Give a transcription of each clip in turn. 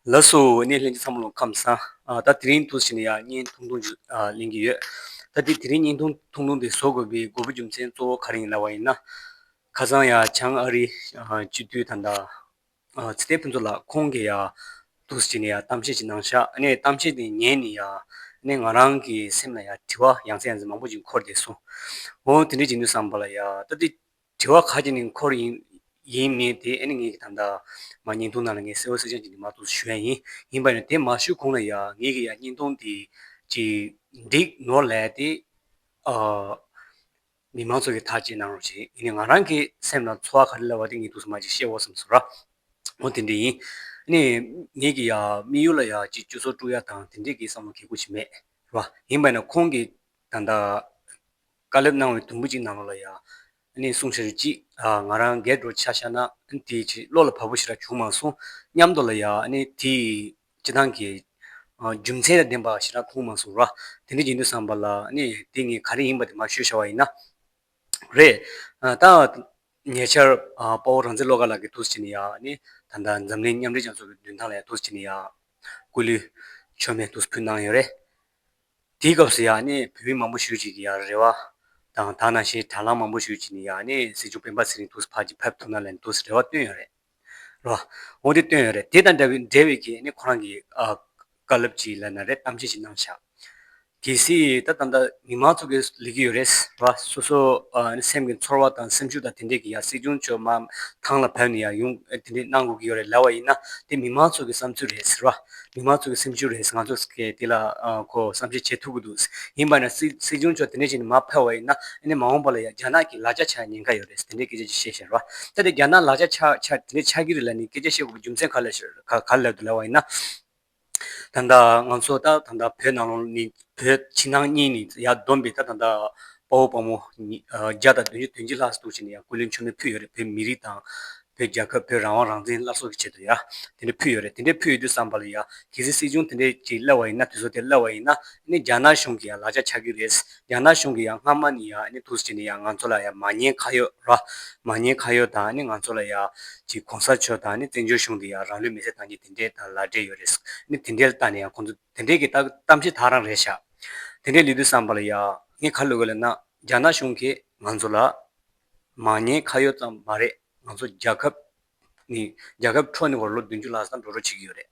ལགས་སོ་ནས་ལྷན་ཅིག་འཚམས་ལོང་ཁམས་སང། ད་དེ་རིང་དུ་ཟེར་ནས་ཡང་བརྙན་ཐུང་ཐུང་ཞིག་གླེང་གི་ཡོད། ད་དེ་དེ་རིང་བརྙན་ཐུང་ཐུང་ཐུང་དེ་བཟོ་དགོས་པའི་དགོས་པ་རྒྱུ་མཚན་གཙོ་བོ་ག་རེ་ཡིན་ལབ་པ་ཡིན་ན། ཁ་སང་ཡ་བྱང་ཨ་རིའི་སྤྱི་འཐུས་ཐ་མདའ། ཚེ་བརྟན་ཕུན་ཚོགས་ལགས་ཁོང་གིས་ཡ། འདུག་ཟེར་ནས་ཡ་གཏམ་བཤད་ཅིག་གནང་ཤག་ཨ་ནས་གཏམ་བཤད་དེ་ཉན་ནས་ཡ། ཨ་ནས་ང་རང་གི་སེམས་ལ་ཡ་དྲི་བ་ཡང་ཚད་ཡང་ཚད་མང་པོ་ཅིག་འཁོར་བསྡད་སོང། འོ་དེ་འདྲས་བྱེད་འདོད་བསམ་པ་ལ་ཡ། ད་དེ། དྲི་བ་ག་གྱི་ནི་འཁོར་ཡིན་ཡིན་མིན་དེ་ཨེ་ནི་ངེད་ཀྱི་དམ་དག། མ་ཉིན་ཐུང་ནང་ལ་ངས་གསེར་འོད་སེར་ལྗང་གི་ནི་མ་གཏོགས་སུ་ཞུ་ཡ་ཡིན་ཡིན་པ་ཡིན་ན་དེ་མ་ཞུ་གོང་ལ་ཡ་ངེད་ཀྱི་ཡ་ཉིན་ཐུང་དེ་ཅིག་འགྲིག་ནོར་ལས་དེ་ཨ། མི་མང་ཚོ་གི་ཐག་བཅད་གནང་རོགས་བྱས་ཡིན་ནི་ང་རང་གི་སེམས་ལ་འཚོ་བ་ག་རེ་ལབ་བ་དེ་ངེད་དུག་སུ་མ་ཅིག་ཤེས་འོ་བསམ་སོ་ར། འོ་དེ་འདྲས་ཡིན་ནི་ངེད་ཀྱི་ཡ་དམིགས་ཡུལ་ལ་ཡ་ཅིག་ཅུ་ཚོ་དཀྲུག་ཡ་དང་དེ་འདྲས་ཀྱི་བསམ་བློ་གས་ཁུག་ཅིག་མེད་རེད་པ་ཡིན་པ་ཡིན་ན་ཁོང་གི་དམ་དག། བཀའ་ལབ་གནང་བའི་དུམ་བུ་གཅིག་གནང་རོགས་ལ་ཡ། ཨཱ་ནི་གསུངས་ཤེས་རེད་ཅིག། ང་རང་སྒེར་འགྲོ་ཆ་ཤ་ན་ཨཱ་ནི་དེའི་ཕྱིར་བློ་ལ་བབས་པོ་ཞིག་རག་བྱུང་མ་སོང་སྙམ་དོ་ལ་ཡ། ཨཱ་ནི་དེ་ཡི་སྤྱི་སྟངས་ཀྱི། རྒྱུ་མཚན་དང་ལྡན་པ་ཞིག་རག་ཁུངས་མ་སོང་ར། དེ་འདྲའི་ཡིན་དུས་བསམ་པ་ལ་ཨཱ་ནི་དེ་ངས་ག་རེ་ཡིན་པ་དེ་མ་ཤོད་ཤ་བ་ཡིན་ན། རེད། ད། ཉེ་ཆར། དཔའ་བོ་རང་བཙན་བློ་དགའ་ལགས་ཀྱིས་ཐུགས་སུ་བཅད་ནས་ཡ། ཨཱ་ནི། ད་ལྟ་འཛམ་གླིང་མཉམ་འབྲེལ་རྒྱལ་ཚོགས་ཀྱི་མདུན་ཐང་ལ་ཡ་ཐུགས་སུ་བཅད་ནས་ཡ། སྐུ་ལུས། མཆོད་མེ་ཐུགས་སུ་ཕུལ་གནང་ཡོད་རེད། དེའི་སྐབས་སུ་ཡང་ནི་བོད་མི་མང་པོ་ཞུས་ཅིག་གི་ཡང་རེ་བ། དང་ཐང་ན་ཤེས་དྲ་ལམ་མང་པོ་ཞུས་ཅིག་ནི་ཡང་ནི་སྲིད་འབྱོར་སྤེན་པ་ཚེ་རིང་ཐུགས་སུ་ཕར་གྱི་ཕེབས་ཐུབ་ན་ལན་འདུག་ཟེར་རེ་བ་བཏོན་ཡོད་རེད། རེ་བ་འོང་དེ་བཏོན་ཡོད་རེད་དེ་དང་འདྲ་བའི་འབྲེལ་བའི་གིས་ནི་ཁོ་རང་གི་བཀའ་སླབ་ཅིག་ལ་ན་རེ་གཏམ་འཆལ་ཞིག་གནང་བཞག་གི་སྲིད་ད་ད་ལྟ་མི་མང་ཚོགས་ཀྱི་ལས་ཀྱི་ཡོད་རེད། རེ་བ་སོ་སོ་ནི་སེམས་ཀྱི་འཚོར་བ་དང་སེམས་ཤུགས་དང་དེ་འདྲས་ཀྱི་ཡང་སྲིད་སྐྱོང་མཆོག་མ་ཐང་ལ་ཕེབས་ནི་ཡང་ཡུང་དེ་འདྲས་གནང་དགོས་ཀྱི་ཡོད་རེད་ལ་བ་ཡིན་ན་དེ་མི་མང་ཚོགས་ཀྱི་བསམ་ཚུལ་རེད་ཟེར་བ། མི་མང་ཚོ་གི་སེམས་ཤུགས་རེད་ང་ཚོ་གིས་དེ་ལ་ཁོ་བསམ་ཤེས་བྱེད་ཐུབ་ཀྱི་འདུག་ཡིན་པ་ན་སྲིད་སྐྱོང་མཆོག་དེ་འདྲའི་ཞིག་ནས་མ་ཕེབས་བ་ཡིན་ན་ཨ་ནི་མ་འོངས་པ་ལ་ཡང་རྒྱ་ནག་གིས་ལག་ཆ་ཆགས་ཉེན་ཁ་ཡོད་རེད་དེ་འདྲའི་སྐད་ཆ་བཤད་ཤེས་རོགས་ཨ་ད་དེ་རྒྱ་ནག་ལག་ཆ་ཆགས་དེ་འདྲའི་ཆགས་ཀྱི་རེད་ལ་ནི་སྐད་ཆ་བཤད་དགོས་པའི་རྒྱུ་མཚན་ག་ལ་ལས་དུ་ལས་བ་ཡིན་ན། ད་ལྟ་ང་ཚོ་ད་ད་བོད་ནང་ལོགས་ནི་བོད་ཕྱི་ནང་གཉིས་ནི་ཡར་བསྡོམས་པའི་ད་ད་དཔའ་བོ་དཔའ་མོ་བརྒྱ་དང་བདུན་ཅུ་དོན་གཅིག་ལྷག་བཟོ་ཐུབ་ཆེད་ནས་ཡང་ཀུན་གླེང་ཆོ་མེད་ཕུལ་ཡོད་རེད་བོད་མི་རིགས་དང་བོད་རྒྱལ་ཁབ་བོད་རང་དབང་རང་བཙན་སླར་གསོ་གི་ཆེད་དུ་ཡ། དེ་འདྲ་ཕུལ་ཡོད་རེད་དེ་འདྲས་ཕུལ་ཡོད་དུས་བསམ་པ་ལ་ཡ། གལ་སྲིད་སྲིད་གཞུང་དེ་འདྲས་ཀྱིས་གླེ་བ་ཡིན་ན་དུས་ཚོད་དེར་གླེ་བ་ཡིན་ན། ཨ་ནི་རྒྱ་ནག་གཞུང་གི་ཡ་ལག་ཆ་ཆགས་ཀྱི་རེད། རྒྱ་ནག་གཞུང་གི་ཡ་སྔ་མ་ནི་ཡ་ཨ་ནི་ཐུགས་རྗེ་ནི་ཡ་ང་ཚོ་ལ་ཡ་མ་ཉེས་ཁ་ཡོད་ར། མ་ཉེས་ཁ་ཡོད་དང་ཨ་ནི་ང་ཚོ་ལ་ཡ། གྱི་གོང་ས་མཆོག་དང་ཨ་ནི་བཙན་བྱོལ་གཞུང་འདི་ཡ་རང་ལུས་མེ་སྲེག་བཏང་རྒྱུ་དེ་འདྲས་དང་ལ་འབྲས་ཡོད་རེད། ཨ་ནི་དེ་འདྲས་ལ་བལྟ་ནས་ཡ་ཁོང་ཚོ་དེ་འདྲས་ཀྱི་ལྟ་གཏམ་བཞིན་དག་རང་རེད་ཤག། དེ་འདྲས་ལུས་དུས་བསམ་པ་ལ་ཡ། ངས་ཁ་བསླུས་གི་ལ་ན། རྒྱ་ནག་གཞུང་གིས་ང་ཚོ་ལ། མང་ཉེས་ཁ་ཡོད་ཙམ་མ་རེད་ང་ཚོ་རྒྱལ་ཁབ་ནི་རྒྱལ་ཁབ་འཕྲོག་ནི་བར་ལོ་བདུན་ཅུ་ལྷག་བསམ་འགྲོ་འགྲོ་བྱེད་ཀྱི་ཡོད་རེད་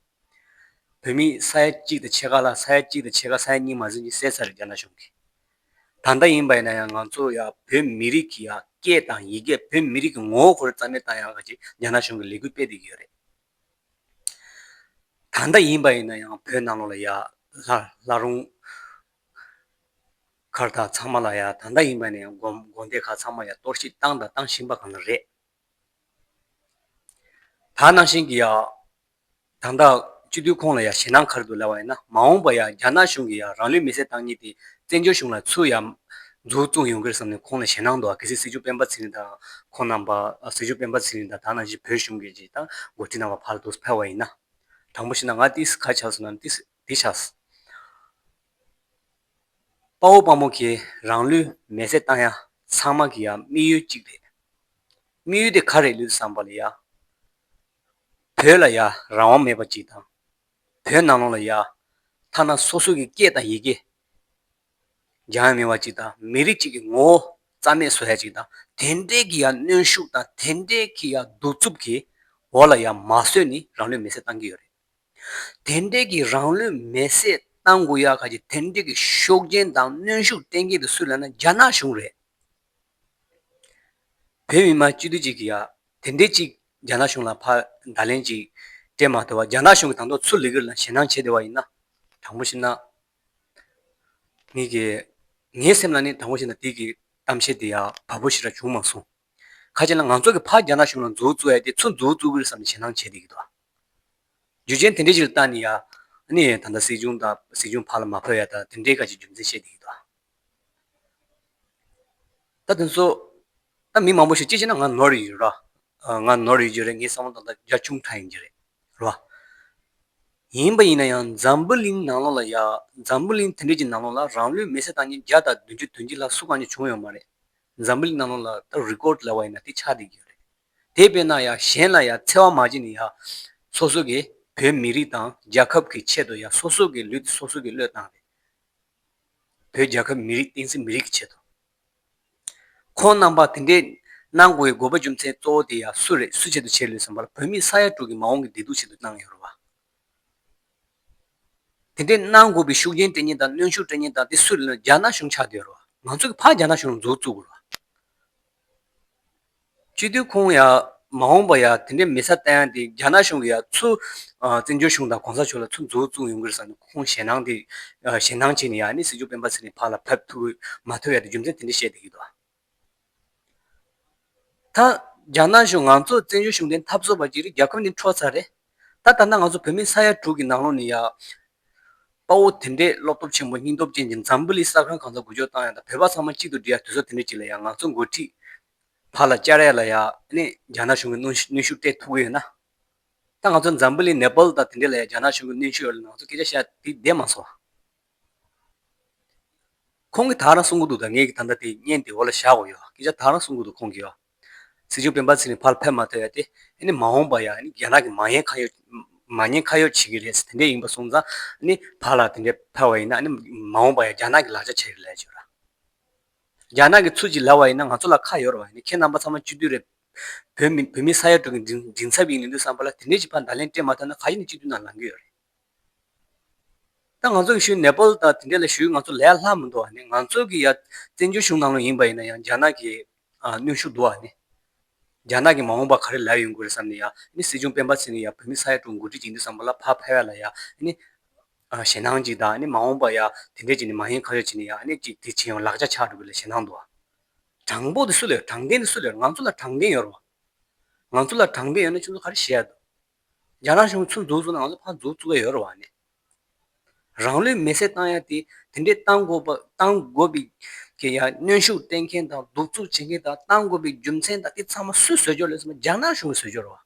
བོད་མི་ས་ཡ་གཅིག་དང་ཕྱེད་ཀ་ལ་ས་ཡ་གཅིག་དང་ཕྱེད་ཀ་ས་ཡ་གཉིས་མ་ཟིན་གྱི་ཟས་ཟ་རེད་རྒྱ་ནག་གཞུང་གིས་ད་ལྟ་ཡིན་པ་ཡིན་ན་ཡང་ང་ཚོ་ཡ་བོད་མི་རིགས་ཀྱི་ཡ་སྐད་དང་ཡི་གེ་བོད་མི་རིགས་ཀྱི་ངོ་བོ་ཁོ་རེ་རྩ་མེད་བཏང་ཡག་ཅེས་རྒྱ་ནག་གཞུང་གིས་ལས་འགུལ་སྤེལ་བསྡད་ཀྱི་ཡོད་རེད་ད་ལྟ་ཡིན་པ་ཡིན་ན་ཡང་བོད་ནང་ལོགས་ལ་ཡ་ལྷ་ལྷ་རུང། མཁར་དག་ཚང་མ་ལ་ཡང་ད་ལྟ་ཡིན་པ་ནས་བསྒོམ་དགོངས་དེ་ག་ཚང་མ་ཡང་གཏོར་བཤིག་བཏང་དང་གཏང་བཞིན་པ་གང་རེད། ད་ནང་བཞིན་གྱི་ཡང་དང་ད་སྤྱི་འཐུས་ཁོང་ལ་ཡང་ཞེད་སྣང་གར་དུ་སླེབས་པ་ཡིན་ན་མ་འོངས་པ་ཡང་རྒྱ་ནག་གཞུང་གིས་ཡང་རང་ལུས་མེ་བསྲེགས་བཏང་ཉིད་དེ་བཙན་བྱོལ་གཞུང་ལ་ཚུར་ཡང་འཛུགས་བཙུགས་ཡོང་གིར་བསམ་ནས་ཁོང་ལ་ཞེད་སྣང་འདུག་གལ་སྲིད་སྲིད་ཇུས་སྤེན་པ་ཚེ་རིང་དང་ཁོང་རྣམ་པ་སྲིད་ཇུས་སྤེན་པ་ཚེ་རིང་དང་ད་ནང་བཞིན་བོད་གཞུང་གིས་ཀྱིས་དང་འགོ་ཁྲིད་གནང་བ་བར་དུ་ཕེལ་བ་ཡིན་ན། དང་པོ་ཞིག་ན་ང་ཏིས་ག་བྱ་བ་བཟོ་ན་ནི་ཏིས། འདི་བྱ། དཔའ་བོ་དཔའ་མོ་གིས་རང་ལུས་མེ་བསྲེགས་བཏང་ཡང་ཚང་མ་གི་ཡ་དམིགས་ཡུལ་གཅིག་རེད། དམིགས་ཡུལ་དེ་ག་རེད་ལུས་བསམ་པ་ལ་ཡ། བོད་ལ་ཡ་རང་དབང་མེད་པ་གཅིག་དང། བོད་ནང་ལོག་ལ་ཡ། ཐ་ན་སོ་སོ་གི་སྐད་དང་ཡི་གེ་སྦྱང་ཡ་མེད་པ་གཅིག་དང་མི་རིགས་གཅིག་གི་ངོ་བོ་རྩ་མེད་བཟོ་ཡ་གཅིག་དང་དེ་འདྲའི་གི་ཡ་གནོན་ཤུགས་དང་དེ་འདྲའི་གི་ཡ་གདུག་རྩུབ་གི་འོག་ལ་ཡ་མ་བཟོས་ནི་རང་ལུས་མེ་བསྲེགས་བཏང་གི་ཡོད་རེད། དེར་འབྲེལ་གྱི་རང་ལུས་མེར་བསྲེགས་བཏང་དགོས་ཡག་ག་གྱི་དེར་འབྲེལ་གྱི་ཤོག་ཆེན་དང་གནོན་ཤུགས་གཏན་འཁེལ་དེ་སུ་ལ་ན་རྒྱ་ནག་གཞུང་རེད། བོད་མི་མང་སྤྱི་འཐུས་གཅིག་གིས་ཡག་དེ་འདྲས་གཅིག་རྒྱ་ནག་གཞུང་ལ་ཕ་མདའ་ལན་གཅིག་སྤྲད་མ་ཐུབ་བ་རྒྱ་ནག་གཞུང་གིས་དང་ཐོག་ཚུར་ལི་གིར་ལ་ཞེད་སྣང་བྱེད་བདེ་བ་ཡིན་ན་དྲང་པོ་ཞིག་གནང། ངེད་ཀྱི་ངའི་སེམས་ལ་ནི་དྲང་པོ་ཞིག་གནང་དེ་གི་གཏམ་བཤད་དེ་ཡག་བ་བོ་ཞིག་ར་བྱུང་མ་སོང། ཁ་ཅིག་ལ་ང་ཚོ་གི་ཕ་རྒྱ་ནག་གཞུང་ལ་འཛུགས་བཙུགས་ཡག་དེ་ཚུར་འཛུགས་བཙུགས་གིར་བསམ་ནས་ཞེད་སྣང་བྱེད་བདེ་གི་འདུག་བ། རྒྱུ་རྐྱེན་དེ་འདྲའི་ཞིག་ལ་བརྟགས་ནས་ཡ། ནི་ད་ལྟ་སྲིད་གཞུང་དང་སྲིད་གཞུང་བར་ལ་མ་འཕོས་ཡ་ད་དེ་འདྲའི་སྐད་ཅིག་རྒྱུ་མཚན་བཤད་དེ་ཡོད་དོ། ད་དེ་ཚོ། ད་མི་མང་པོ་ཞིག་ཅི་བྱས་ན་ང་ནོར་ཡོད་རེད། ང་ནོར་ཡོད་རྒྱུ་རེད་ངའི་བསམ་བློ་དང་ད་རྒྱ་ཆུང་ཕྲ་ཡིན་རྒྱུ་རེད། རེད། ཡིན་པ་ཡིན་ན་ཡང་འཛམ་བུ་གླིང་ནང་ལོགས་ལ་ཡ། འཛམ་བུ་གླིང་དེ་འདྲའི་ཀྱི་ནང་ལོགས་ལ་རང་ལུས་མེ་སྲེག་བཏང་ཉིན་བརྒྱ་དང་བདུན་ཅུ་དོན་གཅིག་ལ་སུ་གང་ཉིད་བྱུང་ཡོད་མ་རེད། འཛམ་བུ་གླིང་ནང་ལོགས་ལ་ད་རི་ཀོར་ལ་བ་ཡིན་ན་དེ་ཆགས་བསྡད་ཀྱི་ཡོད་རེད། དེ་བས་ན་ཡང་གཞན་ལ་ཡང་འཚེ་བ་མ་བྱེད་ནས་ཡང་སོ་སོ་གི་བོད་མི་རིགས་དང་རྒྱལ་ཁབ་ཀྱི་ཆེད་དུ་ཡང་སོ་སོ་གི་ལུས་སོ་སོ་གི་བློས་བཏང་སྟེ། བོད་རྒྱལ་ཁབ་མི་རིགས་བསྟན་སྲིད་མི་རིགས་ཀྱི་ཆེད་དུ། ཁོང་རྣམ་པ་དེ་འདྲས་གནང་དགོས་པའི་དགོས་པ་རྒྱུ་མཚན་གཙོ་བོ་དེ་ཡང་སུ་རེད་སུ་ཆེད་དུ་བྱས་ལོས་བསམ་པར་བོད་མི་ས་ཡ་དྲུག་གི་མ་འོངས་ཀྱི་བདེ་སྡུག་ཆེད་དུ་གནང་ཡོད་རུང་བ། དེ་འདྲས་གནང་དགོས་པའི་ཤུགས་རྐྱེན་སྤྲད་ཉེན་དང་གནོན་ཤུགས་སྤྲད་ཉེན་དང་དེ་སུ་རེད་ལོས་རྒྱ་ནག་གཞུང་ཆགས་བསྡད་ཡོད་རུང་བ། ང་ཚོ་གི་ཕ་རྒྱ་ནག་གཞུང་རུ་འཛུགས་བཙུགས་དགོས་རུང་བ། སྤྱི་འཐུས་ཁོང་ཡང་མ་འོངས་པར་ཡང་དེ་འདྲའི་མི་ཚ་བལྟ་ཡང་དེ་རྒྱ་ནག་གཞུང་གི་ཡང་ཚུ་བཙན་བྱོལ་གཞུང་དང་གོང་ས་མཆོག་ལ་ཚུ་མཛུ་བཙུག་ཡོང་གི་རེད་བསམ་ནས་ཁོང་ཞེ་སྣང་དེ་ཞེ་སྣང་བྱས་ནས་ཡང་ནི་སྲིད་འབྱོར་སྤེན་པ་ཟེར་ནས་ཕར་ལ་ཕེབས་ཐུབ་མ་ཐུབ་ཡང་དེ་རྒྱུ་མཚན་དེ་འདྲ་བཤད་དེ་ཡོད་དོ། ད་རྒྱ་ནག་གཞུང་ང་ཚོ་བཙན་བྱོལ་གཞུང་དེ་འཐབ་བཟོ་བར་གྱི་རིགས་རྒྱ་ཁབ་ནི་འཕྲོག་ཚར་རེད། ད་ལྟ་ན་ང་ཚོ་བོད་མི་ས་ཡ་དྲུག་གི་ནང་ལོགས་ནས་ཡ། དཔའ་བོ་དེ་འདྲས་བློ་སྟོབས་ཆེན་པོ་སྙིང་སྟོབས་ཅན་གྱི་འཛམ་བུ་ལི་ས་ཁང་གང་ས་འགུལ་སྐྱོག་བཏང་ཡ་ད་བོད་པ་ཚང་མ་གཅིག་ཏུ་འདྲིས་ཡ་དུས་ཚོད་དེ་འདྲས་ཅིག་ལ་ཡ་ང་ཚོ་འགོ་ཁྲིད། བར་ལ་བཅར་ཡ་ལ་ཡ་ནས་རྒྱ་ནག་གཞུང་གི་གནོན་གནོན་ཤུགས་སྤྲད་ཐུབ་གི་ཡོད་ན། ད་ང་ཚོ་འཛམ་བུ་ལི་ནེ་པལ་དང་དེ་འདྲས་ལ་ཡ་རྒྱ་ནག་གཞུང་གི་གནོན་ཤུགས་ཡོད་ལ་ང་ཚོ་སྐད་ཆ་བཤད་དེ་བསྡད་མ་སོང། ཁོང་གིས་ད་རང་གསུང་གི་འདུག་ད་ངས་ཀྱི་ད་ལྟ་དེ་བརྙན་དེ་འོག་ལ་བཞག་འོ་ཡ། སྐད་ཆ་ད་རང་གསུང་གི་འདུག་ཁོང་གིས་ཨ། ཚིག་ཆུང་སྤེན་པ་ཚིག་ནི་ཕར་ཕེབས་མ་ཐོས་ཡ་དེ། ཨ་ནི་མ་འོངས་པ་ཡ་ཨ་ནི་རྒྱ་ནག་གི་མ་ཉེན་ཁ་ཡོད། མ་ཉེན་ཁ་ཡོད་བྱེད་ཀྱི་རེད་ཟེར་དེ་འདྲས་ཡིན་པ་སོང་ཙང་ཨ་ནི་ཕར་ལ་དེ་འདྲས་ཕེབས་བ་ཡིན་ན་ཨ་ནི་མ་འོངས་པ་ཡ་རྒྱ་ནག་གི་ལག་ཆ་བྱེད་ཀྱི་རེད་ཅེས་ར། རྒྱ་ནག་གི་ཚུར་གྱིས་ལབ་བ་ཡིན་ན་ང་ཚོ་ལ་ཁ་ཡོར་བ་ཡིན་ཁྱེད་རྣམ་པ་ཚང་མ་སྤྱི་འཐུས་རེད། བོད་མི་བོད་མི་ས་ཡ་དྲུག་གི་མགྲིན་ཚབ་ཡིན་ལེན་དུས་བསམ་པ་ལ་དེ་འདྲས་ཀྱི་ཕར་མདའ་ལན་སྤྲད་མ་ཐོས་ན་ག་ཞིག་ནས་སྤྱི་འཐུས་ནང་ལང་གི་ཡོད་རེད། ད་ང་ཚོ་གིས་ཞུས་ནེ་པལ་དང་དེ་འདྲས་ལ་ཞུས་ང་ཚོ་ལས་སླ་མི་འདུག་ང་ཚོ་གི་ཡ་བཙན་བྱོལ་གཞུང་ནང་ལོ་ཡིན་པ་ཡིན་ན་ཡང་རྒྱ་ནག་གི་གནོན་ཤུགས་འདུག་ཨ་རྒྱ་ནག་གི་མ་འོངས་པ་ག་རེ་ལ་ཡོང་དགོས་རེད་བསམ་ནས་ཡ་ནི་སྲིད་སྐྱོང་སྤེན་པ་ཚེ་ནི་ཡ་བོད་མི་ས་ཡ་དྲུག་འགོ་འཁྲིད་ཅིག་འདི་བསམ་པ་ལ་ཕ་ཕལ་བ་ལ་ཡ་ནི་ཞེ་སྣང་ཅིག་དང་ཨ་ནི་མ་འོངས་པ་ཡ་དེ་འདྲས་ཅིག་ནི་མ་ཡིན་ཁ་ཤོ་ཅིག་ནི་ཡ་ཨ་ནི་ཅིག་དེ་བྱས་ཡོང་ལག་ཆ་ཆགས་འགྲོ་གི་ལ་ཞེ་སྣང་འདུག་ཨ། དྲང་པོ་དེ་སུ་ལ་ཡོད་དྲང་བདེན་དེ་སུ་ལ་ཡོད་ང་ཚོ་ལ་དྲང་བདེན་ཡོད་རོགས། ང་ཚོ་ལ་དྲང་བདེན་ཡོད་ན་ཁྱོད་ཚོ་ག་རེ་བྱས་ཡ་འདུག། རྒྱ་ནག་གཞུང་ཚུར་འཛུགས་བཟོ་ནང་ལ་ཕར་འཛུགས་བཙུགས་ཡ་ཡོད་ར་བ་མེད། རང་ལུས་མེ་སྲེག་བཏང་ཡ་དེ་དེ་འདྲའི་བཏང་དགོས་པ་བཏང་དགོས་པའི་གི་ཡ་གནོན་ཤུགས་སྤྲད་མཁན་དང་གདུག་རྩུབ་བྱེད་མཁན་དང་བཏང་དགོས་པའི་རྒྱུ་མཚན་དང་དེ་ཚང་མ་སུས་བཟོས་རྒྱུ་ལེ་ཚང་མ་རྒྱ་ནག་གཞུང་གིས་བཟོས་རྒྱུ་ར་བ།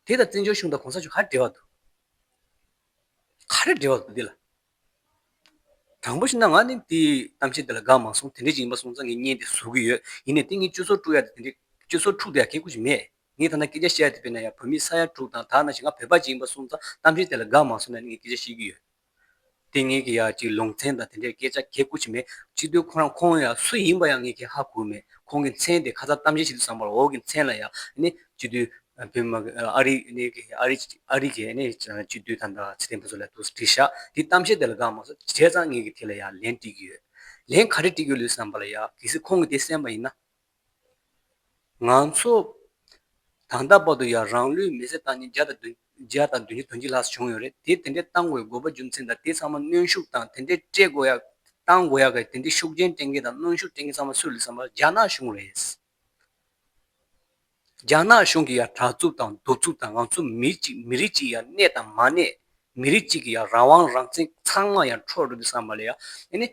དེ་དང་བཙན་བྱོལ་གཞུང་དང་གོང་ས་གཞུང་ག་རེ་འབྲེལ་བ་འདུག། ག་རེ་འབྲེལ་བ་འདུག་དེ་ལ། དྲང་པོ་ཞིག་ན་ང་ནི་དེ་གཏམ་བཤད་འདི་ལ་དགའ་མ་སོང་དེ་འདྲ་ཞིག་ཡིན་པ་སོང་ཙང་ངས་བརྙན་དེ་བཟོ་གི་ཡོད་ཡིན་ནས་དེ་ངས་སྤྱོད་ཟོར་དཀྲུག་ཡག་དེ་འདྲ་སྤྱོད་ཟོར་འཁྲུག་དེ་ཡག་ཁེ་ཁུ་ཞིག་མེད་ངས་ཐ་ན་སྐད་ཆ་བཤད་ཡག་དེ་དཔེར་ན་ཡང་བོད་མི་ས་ཡ་དྲུག་དང་དག་ན་ཞིག་ང་བོད་པ་ཅིག་ཡིན་པ་སོང་ཙང་གཏམ་བཤད་དེ་ལ་དགའ་མ་སོང་ན་ངས་སྐད་ཆ་བཤད་ཀྱི་ཡོད་དེ་ངས་ཀྱི་ཡག་ཅིག་ལུང་ཚན་དང་དེ་འདྲ་སྐད་ཆ་ཁེ་ཁུ་ཞིག་མེད་ཅིག་དུས་ཁོ་རང་ཁོང་ཡང་སུ་ཡིན་པ་ཡང་ངས་ཁེ་ཧ་གོ་མེད་ཁོང་གི་མཚན་དེ་ཁ་ཚ་གཏམ་བཤད་ཞིག་ཏུ་བཟང་བར་འོག་གི་མཚན་ལ་ཡང་ནི་ཅིག་དུས། བོད་མ་གི་ཨ་རིག་གནས་གི་ཨ་རིག་ཨ་རིག་གི་གནས་ཅི་བཅུ་བདུན་ཐམ་པ་ཚེ་བརྟན་ཕུན་ཚོགས་ལ་ཐུགས་བྲིས་ཤག་དེ་གཏམ་བཤད་དེ་ལ་དགའ་མ་སོ་བྱས་ཙང་ངེད་ཀྱི་དེ་ལ་ཡང་ལན་བཀྲིས་ཀྱི་ཡོད། ལན་ག་རེ་བཀྲིས་ཀྱི་ལུས་བསམ་པ་ལ་ཡག་གལ་སྲིད་ཁོང་གི་དེ་གསན་པ་ཡིན་ན། ང་ཚོ་དང་ད་བར་དུ་ཡང་རང་ལུས་མེ་བསྲེགས་བཏང་ཉིན་བརྒྱ་བརྒྱ་དང་བདུན་བརྒྱ་དོན་གཅིག་ལྷག་བྱུང་ཡོད་རེད་དེ་དེ་འདྲའི་བཏང་དགོས་དགོས་པ་རྒྱུ་མཚན་དང་དེ་ཚང་མ་གནོན་ཤུགས་དང་དེ་འདྲའི་སྤྲད་དགོས་ཡག་བཏང་དགོས་ཡག་གི་དེ་འདྲའི་ཤུགས་རྐྱེན་སྤྲད་མཁན་དང་གནོན་ཤུགས་སྤྲད་མཁན་ཚང་མ་སུ་རེད་བསམ་པ་རྒྱ་ནག་གཞུང་རེད། རྒྱ་ནག་གཞུང་གིས་ཡང་དྲག་རྩུབ་དང་གདུག་རྩུབ་དང་ང་ཚོ་མི་གཅིག་མི་རིགས་གཅིག་ཡང་གནས་དང་མ་གནས། མི་རིགས་གཅིག་གི་ཡང་རང་དབང་རང་བཙན་ཚང་མ་ཡང་འཕྲོག་འགྲོ་གི་བསམ་པ་ལ་ཡང།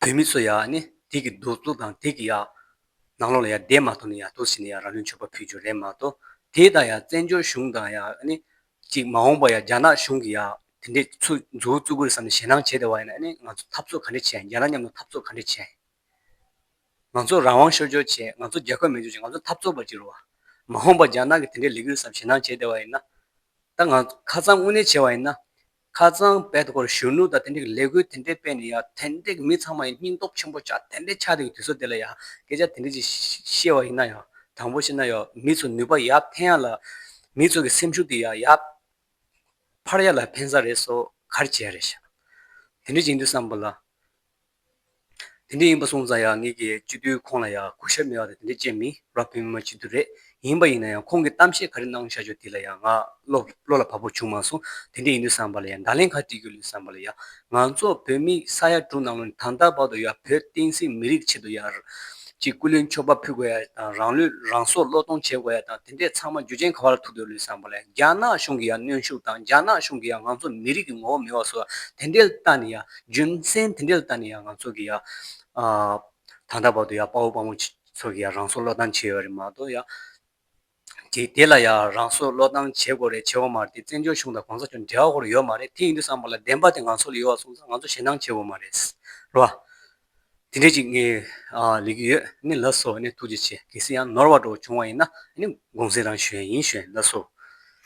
བོད་མི་ཚོ་ཡང་དེ་གི་གདུག་རྩུབ་དང་དེ་གི་ཡང་ནང་ལོག་ལ་ཡང་བསྡད་མ་ཐུབ་ནས་ཡང་དོགས་ཟིན་ནས་ཡང་རང་ལུས་མཆོད་པ་ཕུལ་རྒྱུ་རེད་མ་གཏོགས། དེ་དང་ཡང་བཙན་བྱོལ་གཞུང་དང་ཡང་གཅིག་མ་འོངས་པ་ཡང་རྒྱ་ནག་གཞུང་གིས་ཡང་དེ་འདྲའི་ཚུལ་འཛུགས་རྩུབ་རྒོལ་བསམ་ནས་ཞེ་སྣང་བྱས་དེ་བ་ཡིན་ན་ནི་ང་ཚོ་འཐབ་རྩོད་ག་འདྲས་བྱས་ཡིན་རྒྱ་ནག་མཉམ་དུ་འཐབ་རྩོད་ག་འདྲས་བྱས་ཡིན། ང་ཚོ་རང་དབང་ཤོར་ཤོར་བྱས་ང་ཚོ་རྒྱལ་ཁབ་མེད་ཤོར་བྱས་ང་ཚོ་འཐབ་རྩོད་པ་གཅིག་རུ་བ། མ་འོངས་པར་རྒྱ་ནག་གིས་དེ་འདྲའི་ལས་འགུལ་ཟམ་ཞེ་སྣང་བྱས་བསྡད་པ་ཡིན་ན། ད་ང་ཚོ་ཁ་ཚང་དངོས་གནས་བྱས་བ་ཡིན་ན། ཁ་ཚང་བལ་དུ་སྐོར་གཞོན་ནུ་དང་དེ་འདྲའི་གི་ལས་འགུལ་དེ་འདྲའི་སྤེལ་ནས་ཡང་དེ་འདྲའི་མི་ཚང་མ་ཡང་སྙིང་སྟོབས་ཆེན་པོ་ཆགས་དེ་འདྲའི་ཆགས་འདུག་གི་དུས་ཚོད་དེ་ལ་ཡང་སྐད་ཆ་དེ་འདྲ་ཅིག་བཤད་བ་ཡིན་ན་ཡང་དང་པོ་བཤད་ན་ཡང་མི་ཚོས་ནུས་པ་ཡག་འཕེན་ཡག་ལ། མི་ཚོས་གི་སེམས་ཤུགས་དེ་ཡང་ཡག་འཕར་ཡག་ལ་འཕེན་ས་རེད་སོ་གར་བྱས་རེད་བྱ། དེ་འདྲའི་བྱེད་འདུག་བསམ་པ་ལ། དེ་འདྲས་ཡིན་པ་སོང་ཙང་ཡང་ངེད་ཀྱིས་སྤྱི་འཐུས་ཁོང་ལ་ཡང་གུས་ཞབས་མེད་པ་དང་དེ་འདྲས་བྱེད་མི་རབས་ཀྱི་མི་མ་སྤྱི་འཐུས་རེད་ཡིན་པ་ཡིན་ན་ཡང་ཁོང་གིས་གཏམ་བཤད་ག་རེ་གནང་བྱ་རྒྱུ་དེ་ལ་ཡང་ང་བློ་ལ་བབ་པོ་བྱུང་མ་སོང་དེ་འདྲས་ཡིན་དུས་བསམ་པ་ལ་ཡང་བརྡ་ལན་ག་བྲིས་རྒྱུ་ལུས་བསམ་པ་ལ་ཡང་ང་ཚོ་བོད་མི་ས་ཡ་དྲུག་ནང་ལོ་ནས་ད་ལྟ་བར་དུ་ཡང་བོད་བསྟན་སྲིད་མི་རིགས་ཆེད་དུ་ཡང་ཅིག་སྐུ་ལུས་མཆོད་པ་ཕུལ་དགོས་ཡ་དང་རང་ལུས་རང་སྲོག་བློས་གཏོང་བྱེད་དགོས་ཡ་དང་དེ་འདྲས་ཚང་མ་རྒྱུ་ཅན་ག་བ་ལ་ཐུག་འདུག་ལུས་བསམ་པ་ལ་ཡང་རྒྱ་ནག་གཞུང་གི་ཡང་གནོན་ཤུགས་དང་རྒྱ་ནག་གཞུང་གི་ཡང་ང་ཚོ་མི་རིགས་ཀྱི་ངོ་བོ་མེད་བ་སོགས་དེ་འདྲས་ལྟ་ནས་ཡང་རྒྱུ་མཚན་དེ་འདྲའི་ལྟ་ནས་ཡང་ང་ཚོ་གི་ཡང་ད་ལྟ་བར་དུ་ཡང་དཔའ་བོ་དཔའ་མོ་ཚོ་གི་ཡང་རང་སྲོག་བློས་བཏང་བྱས་ཡོད་རེད་མ་གཏོགས་ཡང་དེ་ལ་ཡང་རང་སྲོག་བློས་བཏང་བྱེད་དགོས་རེད་བྱེད་དགོས་མ་རེད་དེ་བཙན་བྱོལ་གཞུང་དང་གོང་ས་མཆོག་འབྲེལ་བ་སྐོར་ཡོད་མ་རེད་དེ་ཡིན་དུས་སམ་པ་ལ་བདེན་པ་དེ་ང་ཚོ་ལ་ཡོད་བ་སོང་ཙང་ང་ཚོ་ཞེ་སྣང་བྱེད་དགོས་མ་རེད་རོ། དེ་འདྲས་ཅིག་ངས་ལས་ཀྱི་ཡོད་ནི་ལགས་སོ་ནས་ཐུགས་རྗེ་ཆེ་གལ་སྲིད་ཡང་ནོར་བ་འགྲོ་བ་བྱུང་བ་ཡིན་ན་ནི་དགོངས་སེལ་རང་ཞུ་ཡ་ཡིན་ཞུ་ཡ་ཡིན་ལགས་སོ།